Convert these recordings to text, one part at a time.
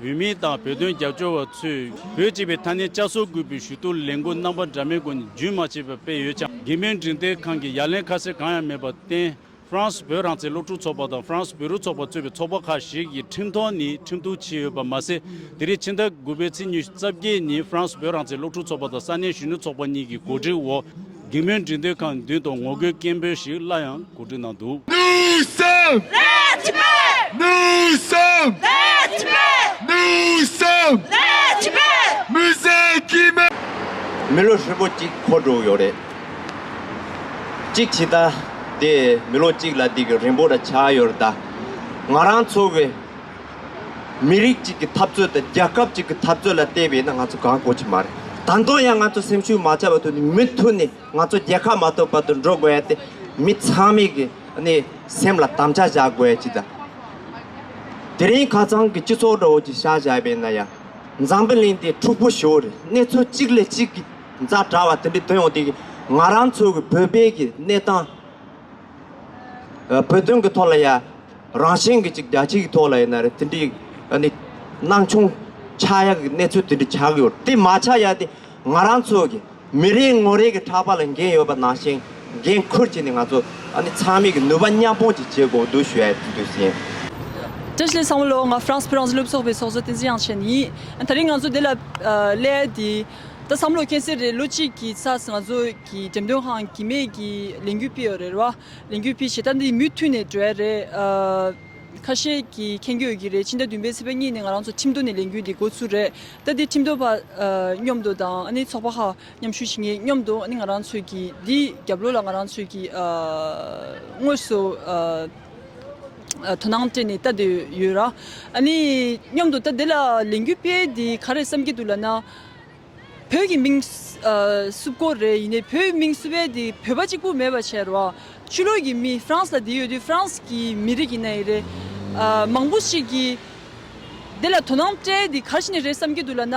བོད་མི་དང་བོད་དོན་རྒྱབ་སྐྱོར་བ་ཚོས་བོད་སྤྱི་པའི་མཐའ་སྣེ་བསྐྱར་གསོ་དགོས་པའི་ཞུ་གཏུག་ལས་འགུལ་རྣམ་པ་འདྲ་མིན་སྐོར་རྒྱུན་མ་ཆད་པར་སྤེལ་ཡོད་ཀྱང་དགེ་མེད་འབྲིང་བསྟན་ཁང་གིས་ཡ་ལན་ཁ་གསལ་གང་ཡང་མེད་པར་བརྟེན། ཧྥ་རན་སི་བོད་རང་བཙན་སློབ་ཕྲུག་ཚོགས་པ་དང་ཧྥ་རན་སི་བོད་རིགས་ཚོགས་པ་གཙོས་པའི་ཚོགས་པ་ཁག་ཞིག་གིས་ཁྲིམས་ཐོག་ནས་ཁྲིམས་གཏུག་བྱས་ཡོད་པ་མ་ཟད། དེ་རིང་ཕྱི་ཟླ་དགུ་པའི་ཚེས་ཉི་ཤུ་རྩ་བརྒྱད་ཉིན་ཧྥ་རན་སི་བོད་རང་བཙན་སློབ་ཕྲུག་ཚོགས་པ་དང་ས་གནས་གཞོན་ནུ་ཚོགས་པ་གཉིས་ཀྱི་གོ་སྒྲིག་འོག། སྒེག་མོའི་འགྲིག་འདོད་ཁང་མདུན་དུ་ངོ་རྒོལ་སྐད་འབོད་ཞིག་སླར་ཡང་གོ་སྒྲིག་གནང་འདུག། མི་ལོ་ཧྲིལ་པོ་གཅིག་འཁོར་འགྲོ་ཡོད་རེད། གཅིག་བྱེད་ད་དེ་མི་ལོ་གཅིག་ལ་འདི་གི་རིང་པོ་ར་ཆགས་ཡོད་རེད་ད། ང་རང་ཚོ་བའི། མི་རིགས་གཅིག་གི་འཐབ་རྩོད་དང་རྒྱལ་ཁབ་གཅིག་གི་འཐབ་རྩོད་ལ་བལྟས་པས་ན་ང་ཚོ་གང་དགོས་ཀྱི་མ་རེད། ད་དུང་ཡང་ང་ཚོ་སེམས་ཤུགས་མ་ཆག་པ་ཐོན་ནས་མུ་མཐུད་ནས་ང་ཚོ་རྒྱལ་ཁ་མ་ཐོབ་བར་དུ་འགྲོ་དགོས་ཡ་དེ་མི་ཚང་མས་གི་ནི་སེམས་ལ་དམ་བཅའ་བཞག་དགོས་ཡ་ཅིག་དང། དེ་རིང་ག་ཚང་གི་སྤྱི་ཚོགས་འགྲོ་འོང་གྱི་ཤ་བཞག་པས་ན་ཡ། འཛམ་བུ་གླིང་འདི་འཁྲུག་པོ་ཞོར་རེད་གནས་ཚུལ་གཅིག་ལས་གཅིག་གི་མཛའ་དྲ་བ་དེ་འདྲའི་དོན་ཡོང་དུས་ང་རང་ཚོ་གི་བོད་པའི་གི་གནས་སྟངས། བོད་དོན་གྱི་ཐོག་ལ་ཡ། རང་གཞན་གྱི་ཅིག་རྒྱ་ཆེ་གི་ཐོག་ལ་ཡིན་ན་རེད་དེ་འདྲའི་ནི། སྣང་ཆུང། ཆ་ཡ་གི་གནས་ཚུལ་དེ་འདྲ་ཆགས་ཀྱི་ཡོད་དེ་མ་ཆགས་ཡ་དེ། ང་རང་ཚོ་གི་མི་རེ་ངོ་རེ་གི་ཕྲག་པ་ལ་འགན་ཡོད་པ་ནང་བཞིན་འགན་ཁུར་བྱས་ནས་ང་ཚོ་ཚང་མིག་གི་ནུས་པ་མཉམ་སྤུངས་ཅིག་བྱེད་དགོས་འདུག་ཞུ་ཡ་དེ་འདུག་ཟིན། བཀྲ་ཤིས་བཟང་བོ་ལོ་ང་ཧྥ་རན་སི་བོད་རང་བཟི་སློབ་ཚོགས་པའི་ཚོགས་གཙོ་བསྟན་འཛིན་དབྱངས་ཅན་ཡིན། ད་རིང་ང་ཚོ་དེ་ལ་སླད་དེ། ད་བསམ་བློ་སྐྱེ་སའི་རེད་ལོ་གཅིག་གི་ཚ་ང་ཚོ་གི་འགྲེམས་སྟོན་ཁང་གི་མེད་གི་ལས་འགུལ་སྤེལ་ཡོད་རེད་ར་ལས་འགུལ་སྤེལ་བྱེད་ད་འདི་མུས་མཐུན་ནས་འགྲོ་ཡ་རེད་ཁ་ཤས་གི་མཁྱེན་གྱི་ཡོད་གི་རེད་སྤྱི་ཟླ་བདུན་པའི་ཚེས་པ་གཉིས་ནས་ང་རང་ཚོ་ཁྲིམས་དོ་ནས་ལས་འགུལ་འདི་འགོ་ཚུགས་རེད་ད་འདི་ཁྲིམས་དོ་བ་སྙོམས་དོ་དང་འདི་ཚོགས་པ་ཧ་མཉམ་ཞུ་བྱེད་ངེས་སྙོམས་དོ་འདི་ང་རང་ཚོ་གི་འདི་རྒྱབ་ལོ་ལ་ང་རང་ཚོ་གི་དངོས་སུ། དོ་སྣང་སྤྲད་ནས་ལྟ་འདོད་ཡོད། སྙམ་དུ་ད་འདི་ལ་ལས་འགུལ་སྤེལ་དེ་ག་རེ་བསམ་གྱི་འདུག་ལབ་ན། བོད་ཀྱི་མིང་བསུབ་སྐོར་རེད་ཡིན་ནའི་བོད་མིང་བསུབ་པས་དེ་བོད་པ་གཅིག་པུ་མེད་པ་བྱས་རོགས། ཆུ་ལོག་གི་མི་ཧྥ་རན་སི་ལ་དེ་ཡོད་དུས་ཧྥ་རན་སི་གི་མི་རིགས་ཡིན་ནའི་རེད། མང་པོ་ཞིག་གིས་འདི་ལ་དོ་སྣང་སྤྲད་དེ་ག་རེ་བྱས་ནས་རེད་བསམ་གྱི་འདུག་ལབ་ན།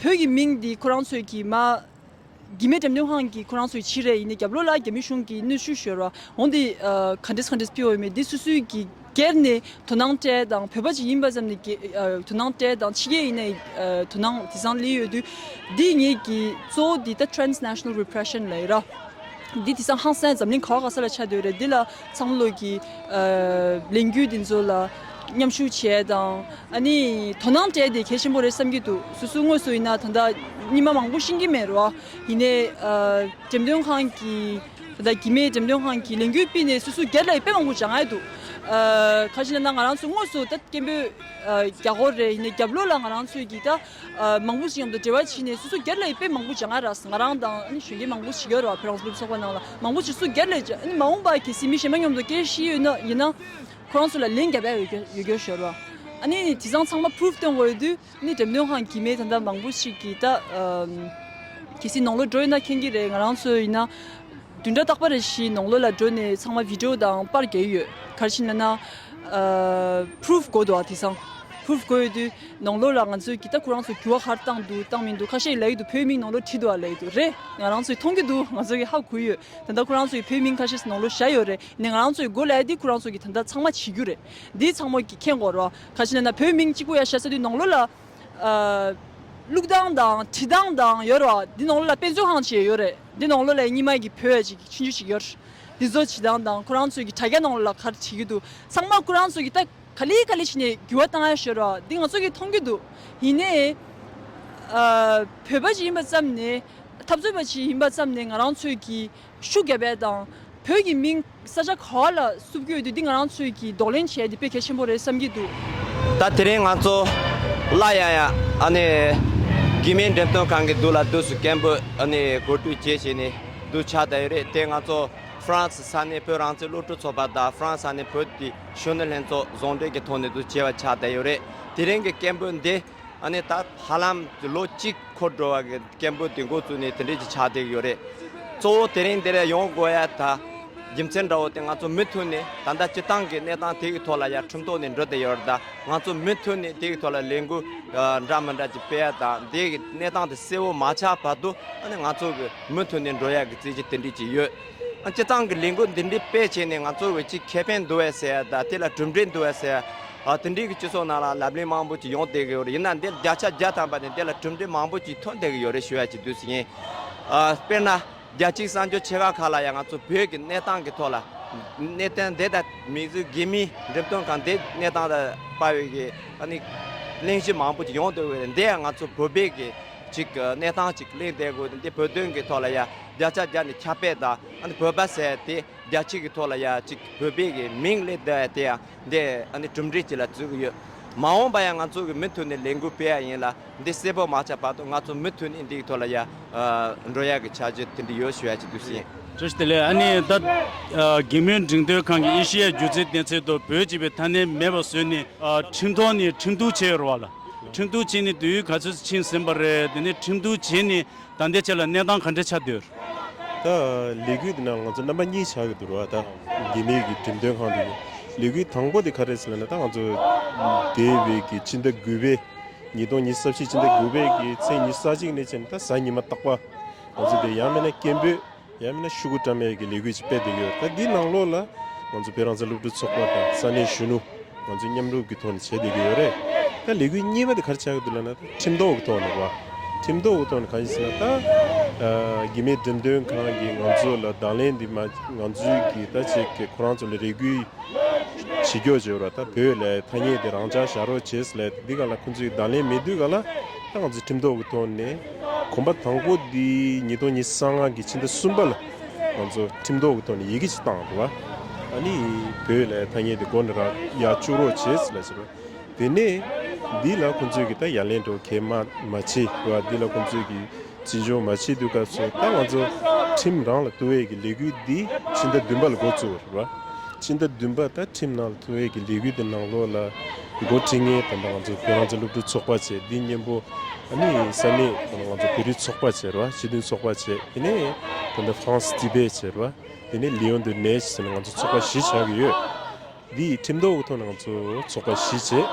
བོད་ཀྱི་མིང་འདི་ཁོ་རང་ཚོས་ཀྱིས་མ། དགེ་མེད་འགྲེམས་སྟོན་ཁང་གིས་ཁོ་རང་ཚོའི་ཕྱིར་རེད་ཡིན་ནའི་རྒྱབ་ལོག་ལ་རྒྱ་མི་གཞུང་གིས་གནོད་བཤུ་བཞོལ་བ་འོང་དེ། ག་འདྲེས་ག་འདྲེས་སྤེལ་འོས་མེད་འདི་སུ་སུའི་གིས་སྒེར་ནས་དོ་སྣང་སྤྲད་དང་བོད་པ་ཅིག་ཡིན་པ་ཙམ་ནས་དོ་སྣང་སྤྲད་དང་ཕྱི་རྒྱལ་ཡིན་ནའི་དོ་སྣང་དེ་སང་ལེ་ཡོད་དུས། འདི་ངེད་ཀྱི་གཙོ་བོ་འདི་ད Transnational Repression ལའེ་ར། འདི་དེ་སང་ཧང་སངས་འཛམ་གླིང་ག་བ་ག་ས་ལ་ཆ་འདོད་རེད་འདི་ལ་ཚང་ལུགས་ཀྱི་ལས་འགུལ་འདི་ཚོ་ལ་མཉམ་ཞུགས་བྱས་དང། དོ་སྣང་སྤྲད་དེ་གལ་ཆེན་པོ་རེད་བསམ་གྱི་འདུག་སོ་སོའི་དངོས་སུ་ཡིན་ན་ད་ལྟ་རྙིང་མ་མང་པོ་ཤེས་ཀྱི་མེད་རོ། ཡིན་ནས་འགྲེམས་སྟོན་ཁང་གི་ད་ལྟ་གི་མེད་འགྲེམས་སྟོན་ཁང་གི་ལས་འགུལ་སྤེལ་ནས་སོ་སོའི་སྒེར་ལ་ཡི་དཔེ་མང་པོ་འཇགས་མཁན་འདུག་ཁ་ཞེ་ན་ང་རང་ཚོ་དངོས་སུ་ད་སྐད་འབོད་རྒྱག་དགོས་རེད་ཡིན་ནས་རྒྱབ་ལོགས་ལ་ང་རང་ཚོས་ཀྱི་ད། མང་པོ་ཞིག་མཉམ་དུ་འབྲེལ་བ་བྱས་ནས་སོ་སོ་སྒེར་ལ་དཔེ་མང་པོ་བྱ་ང་རང་དང་གཞོན་སྐྱེས་མང་པོ་ཞིག་ཡོད་རེད་བ་བོད་རང་ས་ལུགས་ཚོགས་པ་ནང་ལ་མང་པོ་ཞིག་སུ་སྒེར་ལས་བྱེད་མ་འོངས་པ་གལ་སྲིད་མི་གཞན་པ་མཉམ་དུ་སྐྱེ་ཤི་ཡོད་ན་ཡིན་ན་ཁོ་རང་ཚོ་ལ་ལན་བརྒྱ་པའི་འོས་འགན་ཡོད་རྒྱུར་ཤོད་རོགས་ཨ་ནི་དེ་སང་ཚང་མ Proof སྟོན་དགོས་དུས་ནི་འགྲེམས་སྟོན་ཁང་གི་མི་ད་ལྟ་མང་པོ་ཞིག་གིས་ད་གལ་སྲིད་ནང་ལོགས་འགྲོ་ཡོད་ན་མཁྱེན་གྱི་རེད་ང་རང་ཚོ་ཡིན་ན་དུས་འདྲ་རྟག་པ་རེ་ཞིག་ནང་ལོགས་ལ་འགྲོ་ནས་ཚང་མ Video དང་པར་བརྒྱལ་ཡོད་གལ་ཕྱིན་ན་ན Proof དགོས་འདུག་ཨ་དེ་སང Proof དགོས་ཡོད་དུས། ནང་ལོགས་ལ་ང་ཚོས་གི་ད་ཁོ་རང་ཚོ་གུ་བ་ཧར་བཏང་འདུག་བཏང་མི་འདུག་ཁ་ཤས་ལ་ཡིག་ཏུ་བོད་མིང་ནང་ལོགས་བྲིས་འདུག་ཨ་ལ་ཡིག་ཏུ་རེད་ང་རང་ཚོས་མཐོང་གི་འདུག་ང་ཚོ་གི་ཧ་གོ་ཡོད་ད་ལྟ་ཁོ་རང་ཚོའི་བོད་མིང་ཁ་ཤས་ནང་ལོགས་བཞག་ཡོད་རེད་ནས་ང་རང་ཚོའི་གོ་ལ་ཡ་འདི་ཁོ་རང་ཚོ་གི་ད་ལྟ་ཚང་མ་བྱེད་རྒྱུ་རེད་འདི་ཚང་མ་གི་ཁེངས་གོ་རོ་ཁ་ཤས་ན་ན་བོད་མིང་གཅིག་པོ་ཡ་བཞག་ས་དུས་ནང་ལོགས་ལ་ཀླུག་སྟངས་དང་བྲིས་སྟངས་དང་ཡོད་རོ་འདི་ནང་ལོགས་ལ་དཔེ་མཛོད་ཁང་བྱས་ཡོད་རེད་འདི་ནང་ལོགས་ལ་ཡ་གཉིས་མ་གི་བོད་ཅིག་གི་ཕྱིན་ཆུ་ཞིག་ཡོད་འདི་ཚོ་བྱེད་སྟངས་དང་ཁོ་རང་ཚོའི་གི་དྲ་རྒྱ་ནང་ལོགས་ལ་ག་རེ་བྱེད་ཀྱི་འདུག་ཚང་མ་ཁོ་རང་ཚོ་གི་ད། ག་ལི་ག་ལི་བྱས་ནས་འགྱུར་བ་བཏང་ཡ་ཞོར་རོགས་འདི་ང་ཚོ་གིས་མཐོང་གི་འདུག་ཡིན་ནའི། བོད་པ་ཞིག་ཡིན་པ་ཙམ་ནས་འཐབ་རྩོད་པ་ཞིག་ཡིན་པ་ཙམ་ནས་ང་རང་ཚོས་ཀྱི་ཤུགས་རྒྱབ་པའི་དང། བོད་ཀྱི་མིང་ས་ཆ་ག་བ་ལ་བསུབ་རྒྱུ་ཡོད་དུས་འདི་ང་རང་ཚོས་ཀྱིས་འདོགས་ལེན་བྱས་འདི་དཔེ་གལ་ཆེན་པོ་རེད་བསམ་གྱི་འདུག། ད་དེ་རིང་ང་ཚོ་སླར་ཡང་ཡང་ཨ་ནི་དགེ་མིང་འགྲེམས་སྟོན་ཁང་གི་འདུག་ལ་དུས་སུ་སྐད་འབོད་ཨ་ནི་གོ་སྒྲིག་བཅས་བྱས་ནས་འདུག་ཆ་ད་ཡོད་རེད་དེ་ང་ཚོ་ཧྥ་རན་སི་ས་གནས་བོད་རང་བཙན་སློབ་ཕྲུག་ཚོགས་པ་དང་ཧྥ་རན་སི་ས་གནས་བོད་ཀྱི། གཞོན་ནུ་ལྷན་ཚོགས་གཟོང་འདྲེས་ཀྱི་ཐོག་ནས་དུ་བྱེད་པ་ཆགས་བསྡད་ཡོད་རེད། དེ་རིང་གི་སྐད་འབོད་འདི་ནི་ད་ཧ་ལམ་ལོ་གཅིག་འཁོར་འགྲོ་བ་གི་སྐད་འབོད་དེ་འགོ་བཙུགས་ནས་དེ་འབྲེལ་གྱི་ཆགས་བསྡད་ཡོད་རེད། གཙོ་བོ་དེ་རིང་འདིར་ཡོང་དགོས་ཡ་ད་རྒྱུ་མཚན་འདྲ་བོ་དེ་ང་ཚོ་མུ་མཐུད་ནས་ད་ལྟ་སྤྱི་བཏང་གི་གནས་སྟངས་དེ་གི་ཐོག་ལ་ཡ་ཁྲིམས་ཐོག་ནས་འགྲོ་བསྡད་ཡོད་རེད་ད་ང་ཚོ་མུ་མཐུད་ནས་དེ་གི་ཐོག་ལ་ལས་འགུལ་འདྲ་མི་འདྲ་གྱི་སྤེལ་ཡ་ད་འདི་གི་གནས་སྟངས་དེ་གསལ་བོ་མ་ཆགས་བར་དུ་ང་ཚོ་གི་མུ་མཐུད་ནས་འགྲོ་ཡ་གི་རྩིས་གྱི་དེ་འབྲེལ་གྱི་ཡོད། སྤྱི་བཏང་གི་ལས་འགུལ་འདི་འདྲའི་སྤེལ་བྱས་ནས་ང་ཚོར་བའི་སྤྱི་ཁེ་ཕན་འདུ་བས་སེ་ད་དེ་ལ་གྲུབ་འབྲས་འདུ་བས་སེ། དེ་འདྲའི་གི་སྤྱི་ཚོགས་ནང་ལ་ལབ་གླེང་མང་པོ་ཅིག་ཡོང་བསྡད་གི་ཡོད་རེད་ཡིན་ན་འདི་བརྒྱ་ཆ་བརྒྱ་བཏང་པ་ནས་དེ་ལ་གྲུབ་འབྲས་མང་པོ་ཅིག་ཐོན་བསྡད་གི་ཡོད་རེད་ཞུ་ཡ་ཅིག་དུས་སུ་ཡིན། དཔེར་ན། རྒྱ་གཅིག་གསར་འབྱོར་ཆེ་ཁག་ཁག་ལ་ཡང་ང་ཚོ་བོད་ཀྱི་གནས་སྟངས་ཀྱི་ཐོག་ལ། གནས་སྟངས་འདི་དང་མིག་ཟུང་དགེ་མིས་འགྲེམས་སྟོན་ཁང་འདི་གནས་སྟངས་ལ་དཔའ་བའི་གི་ཨཱ་ནི། གླེང་གཞི་མང་པོ་ཅིག་ཡོང་བསྡད་གི་ཡོད་རེད་འདི་ཡང་ང་ཚོ་བོད་པའི་གི་ཅིག་གི་གནས་སྟངས་ཅིག་གླེང་བསྡད་གི་ཡོད་རེད་འདི་བོད་དོན་གྱི་ཐོག་ལ་ཡ། བརྒྱ་ཆ་བརྒྱ་ནི་ཁྱབ་སྤེལ་དང་བོད་པ་ཟེར་ཏེ་རྒྱ་སྤྱི་གི་ཐོག་ལ་ཡང་ཅིག་བོད་པའི་གི་མིང་ལས་བསྡད་བ་དེ་ཡང་འདི་གྲུབ་འབྲས་ཅིག་ལ་བརྩི་གི་ཡོད། མ་འོངས་པ་ཡང་ང་ཚོ་གི་མུ་མཐུད་ནས་ལས་འགུལ་སྤེལ་ཡ་ཡིན་ལ་འདི་གསལ་པོ་མ་ཆགས་བར་དུ་ང་ཚོ་མུ་མཐུད་ནས་འདིའི་ཐོག་ལ་ཡང་འགྲོ་ཡ་གི་བྱ་རྒྱུ་དེ་འདི་ཡོད་ཞུ་ཡ་ཅིག་འདུག་ཤིང། ཅོ་ཏི་ལེ་ཨ་ནི་ད་གེ་མོའི་འབྲིང་སྟོན་ཁང་གི་ཨེ་ཤི་ཡའི་སྒྱུ་རྩལ་གཏན་ཚིགས་ཐོག་བོད་སྤྱི་པའི་མཐའ་སྣེ་མེད་པ་བཟོས་ནས་ཁྲིམས་ཐོག་ནས་ཁྲིམས་གཏུགས་བྱས་ཡོད་རེད་བ་ལ། ཁྲིམས་གཏུགས་བྱས་ནས་དུས་ཡུན་ག་ཚོད་ཕྱིན་ཟིན་པ་རེད་དེ་ནས་ཁྲིམས་གཏུགས་བྱས་ནས་ད་འདས་ཆད་ལ་གནས་སྟངས་ག་འདྲ་ཆགས་འདོད། ད་ལས་གུས་དེ་ན་ང་ཚོ་རྣམ་པ་གཉིས་ཆགས་ཀྱི་འདུག་རོ་ད་རྒྱ་མིའི་གི་འགྲེམས་སྟོན་ཁང་དུ་ལས་གུས་དང་པོ་དེ་ག་རེད་ཟེར་ན་ད་ང་ཚོ་དེ་བས་གི་སྤྱི་ཟླ་དགུ་པའི་ཉིས་སྟོང་ཉིས་སྟོང་ཟབ་ཞི་སྤྱི་ཟླ་དགུ་པའི་གི་ཚེས་ཉི་ས་གཅིག་ནས་བྱས་ནས་ད་གཟའ་ཉི་མ་རྟག་པ་ང་ཚོ་དེ་ཡང་མེད་ན་སྐད་འབོད་ཡང་མིན་ན་ཤུ་གུ་བཀྲ་མེད་ཀྱི་ལས་འགུལ་ཅིག་སྤེལ་འདོད་ཡོད་ད་འདི་ནང་ལོགས་ལ། ང་ཚོ་བོད་རང་བཙན་སློབ་ཕྲུག་ཚོགས་པ་དང་ས་གནས་གཞོན་ནུ། ང་ཚོས་མཉམ་རུབ་ཀྱི་ཐོག་ནས་བྱེད་འདོད་ཀྱི་ཡོད་རེད། ད་ལས་འགུལ་གཉིས་པ་དེ་གར་བྱ་གི་འདུག་ལབ་ན་ད་ཁྲིམས་ཐོག་གི་ཐོག་ནས་བ། ཁྲིམས་ཐོག་གི་ཐོག་ནས་གང་ཞིག་ཟེར་ན་ད། རྒྱུ་མེད་འགྲེམས་སྟོན་ཁང་གིས་ང་ཚོ་ལ་གདང་ལེན་འདི་མ་ང་ཚོའི་གི་ད་བྱེད་ཀྱི་ཁོ་རང་ཚོ་ལ་རེ་གུས། བྱེད་རྒྱོག་བྱེད་རོགས་ད་བོད་ལ་ཐ་སྙད་དེ་རང་འཇགས་བཞག་རོགས་བྱེད་ལ་ད་འདི་ག་ལ་ཁོ་ཚོའི་གདང་ལེན་མེད་དུས་ག་ལ། ད་ང་ཚོས་ཁྲིམས་ཐོག་གི་ཐོག་ནས། གོམ་པ་དང་པོ་འདི་ཉིས་སྟོང་ཉིས་གསང་སྔགས་ཀྱི་ཕྱི་ཟླ་གསུམ་པ་ལ་ང་ཚོ་ཁྲིམས་ཐོག་གི་ཐོག་ནས་ཡི་གེ་གཅིག་བཏང་འདུག་ཨ་ནི་བོད་ལ་ཐ་སྙད་དེ་མགོ་ན་རག་ཡ་བཅུག་རོགས་བྱེད་ཟེར་ལ་བྱས་པ་དེ་ནས་འདི་ལ་ཁོང་ཚོས་ཀྱི་ད་ཡ་ལན་འགྲོ་གལ་མ་མ་བྱེད་ལ་འདི་ལ་ཁོང་ཚོས་ཀྱི་བྱིན་འབྱུང་མ་བྱེད་དུས་སྐབས་སུ་ད་ང་ཚོ་ཁྲིམས་རང་ལ་ཐུ་བྷེ་ཀྱི་ལས་འགུལ་འདི་ཕྱི་ཟླ་བདུན་པ་ལ་འགོ་བཙུགས་པ་རེད་བ་ཕྱི་ཟླ་བདུན་པ་ད་ཁྲིམས་ནང་ལ་ཐུ་བྷེ་ཀྱི་ལས་འགུལ་འདི་ནང་ལོགས་ལ། མགོ་ཁྲིད་ངས་དེ་འདྲ་ང་ཚོ་ཁྱོད་རང་ཚོ་སློབ་ཕྲུག་ཚོགས་པ་བྱེད་འདི་སྙན་པོ་ཨཱ་ནི་ས་གནས་དེ་ནས་ང་ཚོ་བོད་རིགས་ཚོགས་པ་བྱེད་རོགས་སྤྱི་མཐུན་ཚོགས་པ་བྱེད་དེ་ནས་དེ་འདྲ་ཧྥ་རན་སི་བྱེད་དེ་ནས་ལི་ཡོན་དུ་གནས་བྱས་ནས་ང་ཚོ་ཚོགས་པ་བཞི་ཆགས་ཀྱི་ཡོད་འདི་ཡི་ཁྲིམས་ཐོག་གི་ཐོག་ནས་ང་ཚོ་ཚོགས་པ་བཞི་བྱེད་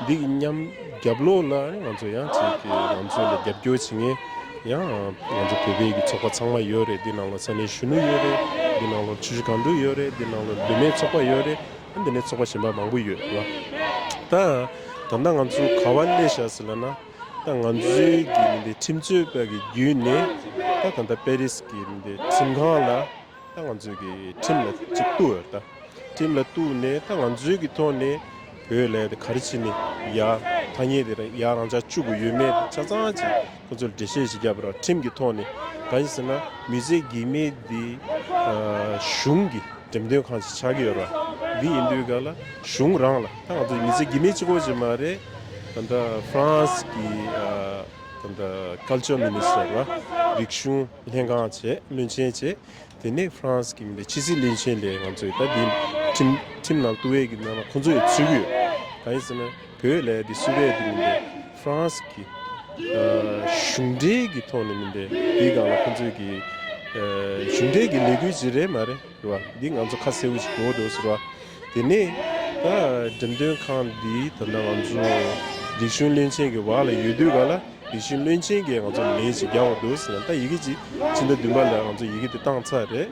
འདི་གི་མཉམ་རྒྱབ་ལོགས་ལ་ནི་ང་ཚོ་ཡང་བྱེད་ཀྱི་ང་ཚོ་ལ་རྒྱབ་སྐྱོར་བྱེད་ངེས་ཡང་ང་ཚོ་བོད་པའི་གི་ཚོགས་པ་ཚང་མ་ཡོད་རེད་འདི་ནང་ལ་ས་གནས་གཞོན་ནུ་ཡོད་རེད་འདི་ནང་ལ་ཆུ་བཞི་གང་དྲུག་ཡོད་རེད་འདི་ནང་ལ་བུད་མེད་ཚོགས་པ་ཡོད་རེད། འདི་ནས་ཚོགས་པ་གཞན་པ་མང་པོ་ཡོད་ལ། ད་ད་ལྟ་ང་ཚོ་ག་བ་གནས་བཞག་ཟེར་ལ་ན། ད་ང་ཚོའི་གི་མི་འདི་ཁྲིམས་རྩོད་པ་གི་བརྒྱུད་ནས་ད་ད་ལྟ་པེ་རིས་གི་མི་འདི་ཁྲིམས་ཁང་ལ་ད་ང་ཚོའི་གི་ཁྲིམས་ལ་ཅིག་གཏུགས་ཡོད་ད། ཁྲིམས་ལ་གཏུགས་ནས་ད་ང་ཚོའི་གི་ཐོག་ནས་བོད་ལས་དེ་ག་རེ་བྱེད་ནས་ཡག་ཐ་སྙད་དེ་རང་ཡག་རང་ཅག་བཅུག་གི་ཡོད་མེད་ཆ་ཚང་ཅིག། ཁོ་ཚོར་འགྲེལ་བཤད་ཞིག་བརྒྱབ་པ་རང་ཁྲིམས་ཀྱི་ཐོག་ནས་གང་ཞིག་ཟེར་ན་མི་ཚེ་གེགས་མེད་འདི་གཞུང་གི་འགྲེམས་སྟོན་ཁང་ཞིག་ཆགས་ཀྱི་ཡོད་ར་འདི་ཡིན་དུས་ག་ལ་གཞུང་རང་ལ་ད་ང་ཚོ་མི་ཚེ་གེགས་མེད་ཅིག་གོ་ཞིག་མ་རེད་ད་ལྟ France གི་ད་ལྟ Culture Minister ལ་རིག་གཞུང་ལྷན་ཁང་བྱས་བློན་ཆེན་བྱས་དེ་ནས France གི་མི་ལ་ཕྱི་སྲིད་བློན་ཆེན་ལས་ང་ཚོས་ད་འདི་ཁྲིམས་ཁྲིམས་ནང་བསྟུ་བས་ཀྱི་ནང་ན་ཁོ་ཚོ་ཡོད་ཚུད་ཀྱི་ཡོད་གང་ཞིག་ཟེར་ན་བོད་ལས་དེ་སུད་རེད་དེ་མིན་པའི France གི་གཞུང་འབྲེལ་གྱི་ཐོག་ནས་མིན་པའི་དེའི་སྒང་ལ་ཁོ་ཚོས་ཀྱི་གཞུང་འབྲེལ་གྱི་ལས་འགུལ་ཞིག་རེད་མ་རེད་རེད་བ་དེ་ང་ཚོ་ཁ་གསལ་བོ་ཞིག་གོ་འདུག་ཟེར་བ་དེ་ནས་ད་འགྲེམས་སྟོན་ཁང་འདི་ད་ང་ཚོ་རིག་གཞུང་བློན་ཆེན་གྱི་བག་ལ་ཡོད་དུས་ག་ལ་རིག་གཞུང་བློན་ཆེན་གྱིས་ང་ཚོ་ལས་ཞིག་རྒྱག་བ་འདུག་ཟེར་ན་ད་ཡི་གེ་ཅིག་ཕྱི་ཟླ་བདུན་པ་ལ་ང་ཚོ་ཡི་གེ་དེ་བཏང་ཚར་རེད་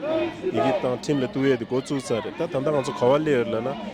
ཡི་གེ་བཏང་ཁྲིམས་ལ་བསྟུ་བས་དེ་འགོ་བཙུགས་ཚར་རེད་ད་ད་ལྟ་ང་ཚོ་ག་བ་སླེབས་ཡོད་རེད་ལབ་ན།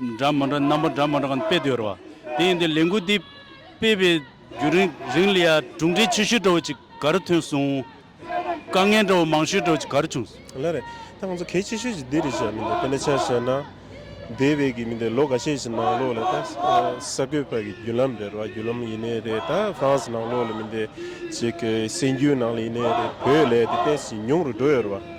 འདྲ་མི་འདྲ་རྣམ་པ་འདྲ་མི་འདྲ་གང་སྤེལ་དུ་ཡོད་རེད་བ། དེ་ཡིན་དུས་ལས་འགུལ་འདི་སྤེལ་བའི་རྒྱུན་རིང་རིང་ལ་ཡང་གྲུབ་འབྲས་ཆེ་ཤོས་འདྲ་བོ་ཅིག་ག་རེ་ཐོན་སོང། དཀའ་ངལ་འདྲ་བོ་མང་ཤོས་འདྲ་བོ་ཅིག་ག་རེ་བྱུང་སོང། ལ་རེད། ད་ང་ཚོ་གལ་ཆེ་ཤོས་ཀྱི་འདི་རེད་བྱས་མི་འདུག་དེ་འདྲ་ཆ་བྱས་ན། འདས་བའི་གི་མི་འདི་ལོ་ག་ཤས་ཀྱི་ནང་ལོགས་ལ་ད་ས་བགོས་པ་གི་རྒྱུན་ལམ་རེད་རེད་བ་རྒྱུན་ལམ་ཡིན་ནའི་རེད་ད France ནང་ལོགས་ལ་མི་འདི་ཅིག་གི་སེམས་རྒྱུད་ནང་ལ་ཡིན་ནའི་རེད་བོད་ལས་དེ་དེ་བཞིན་ཉུང་རུ་འགྲོ་ཡོད་རེད་བ།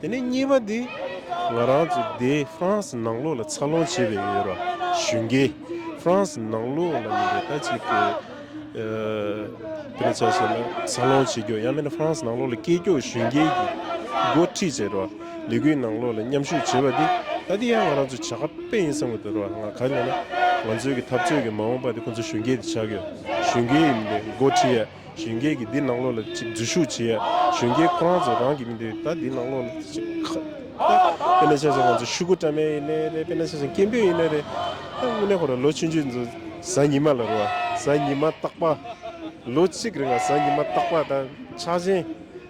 དེ་ནས་གཉིས་པ་འདི། ང་རང་ཚོ་སྡེ France ནང་ལོགས་ལ་འཚར་ལོངས་བྱས་པའི་ཡོད་རོགས་གཞོན་སྐྱེས France ནང་ལོགས་ལ་ཡིན་པའི་ད་ཅིག་གི། དེ་ལ་བྱ་ཞེ་ན་འཚར་ལོངས་བྱེད་རྒྱུ་ཡང་མིན་ན France ནང་ལོགས་ལ་སྐྱེས་སྐྱོགས་གཞོན་སྐྱེས་ཀྱི་འགོ་ཁྲིད་བྱས་རོགས་ལས་འགུལ་ནང་ལོགས་ལ་མཉམ་ཞུགས་བྱེད་པ་འདི་ད་འདི་ཡང་ང་རང་ཚོ་བྱ་ག་པས་ཡིན་བསམ་གི་འདུག་རོགས་ང་ག་ལས་ན་ང་ཚོའི་གི་འཐབ་རྩོད་ཀྱི་མ་འོངས་པ་འདི་ཁོང་ཚོ་གཞོན་སྐྱེས་འདི་བྱ་གི་ཡོད་གཞོན་སྐྱེས་ཡིན་པའི་འགོ་ཁྲིད་ཡ། གཞོན་སྐྱེས་ཀྱིས་འདི་ནག་ལོ་ལ་ཅིག་འཛུལ་ཞུགས་བྱེད། གཞོན་སྐྱེས་ཁོ་རང་ཚོ་རང་གི་མི་འདོད་ད་འདི་ནག་ལོ་ལ་ཅིག་ཁ། དཔེར་ན་ཆ་ཚང་ང་ཚོ་ཕྱུག་གུ་བཀྲ་མེད་ཡིན་ནའི་རེད་དཔེར་ན་ཆ་ཚང་སྐྱེས་འབུད་ཡིན་ནའི་རེད། དངོས་གནས་ཁོ་རང་ལོ་ཆུང་ཆུང་ཚོ་གཟའ་ཉི་མ་ལ་རུ་བ་གཟའ་ཉི་མ་རྟག་པ། ལོ་གཅིག་རེ་འགའ་གཟའ་ཉི་མ་རྟག་པ་ད་ཆགས་ཆེན།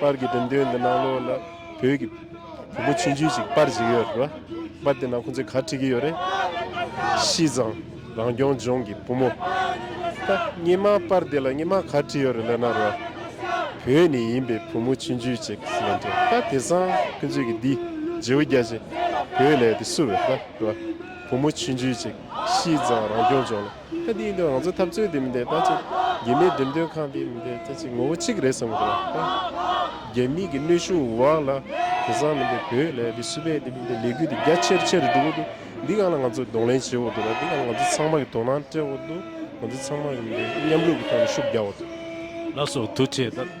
པར་གྱི་འགྲེམས་སྟོན་འདི་ནང་ལོགས་ལ་བོད་ཀྱི་བུ་མོ་ཆུང་ཆུང་ཞིག་པར་བྱེད་ཀྱི་ཡོད་རེད་པ། པར་དེ་ནང་ཁོང་ཚོས་གར་བྲིས་ཀྱི་ཡོད་རེད། བཤིས་ཚང་རང་སྐྱོང་ལྗོངས་ཀྱི་བུ་མོ། ད་སྙེ་མ་པར་དེ་ལ་སྙེ་མ་གར་བྲིས་ཡོད་རེད་ལབ་ན་རེད་བ། བོད་ནས་ཡིན་པའི་བུ་མོ་ཆུང་ཆུང་ཅིག་གིས་ལབ་འདུག་ད་དེ་སང་ཁོང་ཚོས་ཀྱི་འདི་རྗེའུ་རྒྱ་ཆེ་བོད་ལས་དེ་སུ་རེད་བ། བུ་མོ་ཆུང་ཆུང་ཅིག་བཤིས་ཚང་རང་སྐྱོང་ལྗོངས་ལ། གལ་ཏེ་ཡིན་དུས་ང་ཚོ་འཐབ་རྩོད་འདི་མི་འདེད་ད་ཅི། རྒྱལ་མིའི་འགྲེམས་སྟོན་ཁང་འདི་མི་འདེད་ད་ཅི་ངོ་བོ་གཅིག་རེད་བསམ་གི་རེད་ད། རྒྱལ་མིའི་གི་གནོད་ཤུགས་འུར་བ་ལ་དེ་སང་མི་འདེད་བོད་ལས་འདི་སུ་པའི་འདི་མི་འདེད་ལས་འགུལ་འདི་རྒྱ་ཆེར་ཆེར་འགྲོ་གི་འདུག་འདི་གང་ལ་ང་ཚོ་གདོང་ལེན་བྱེད་འོག་ཏུ་ར་འདི་གང་ལ་ང་ཚོ་ཚང་མ་གི་དོ་སྣང་སྤྲད་འོག་ཏུ་ང་ཚོ་ཚང་མ་གི་མི་འདེད་མཉམ་རུབ་གི་ཐོག་ནས་ཤུགས་རྒྱག་འོག་ཏུ། ལ་སོགས་དུ་བྱས་ད།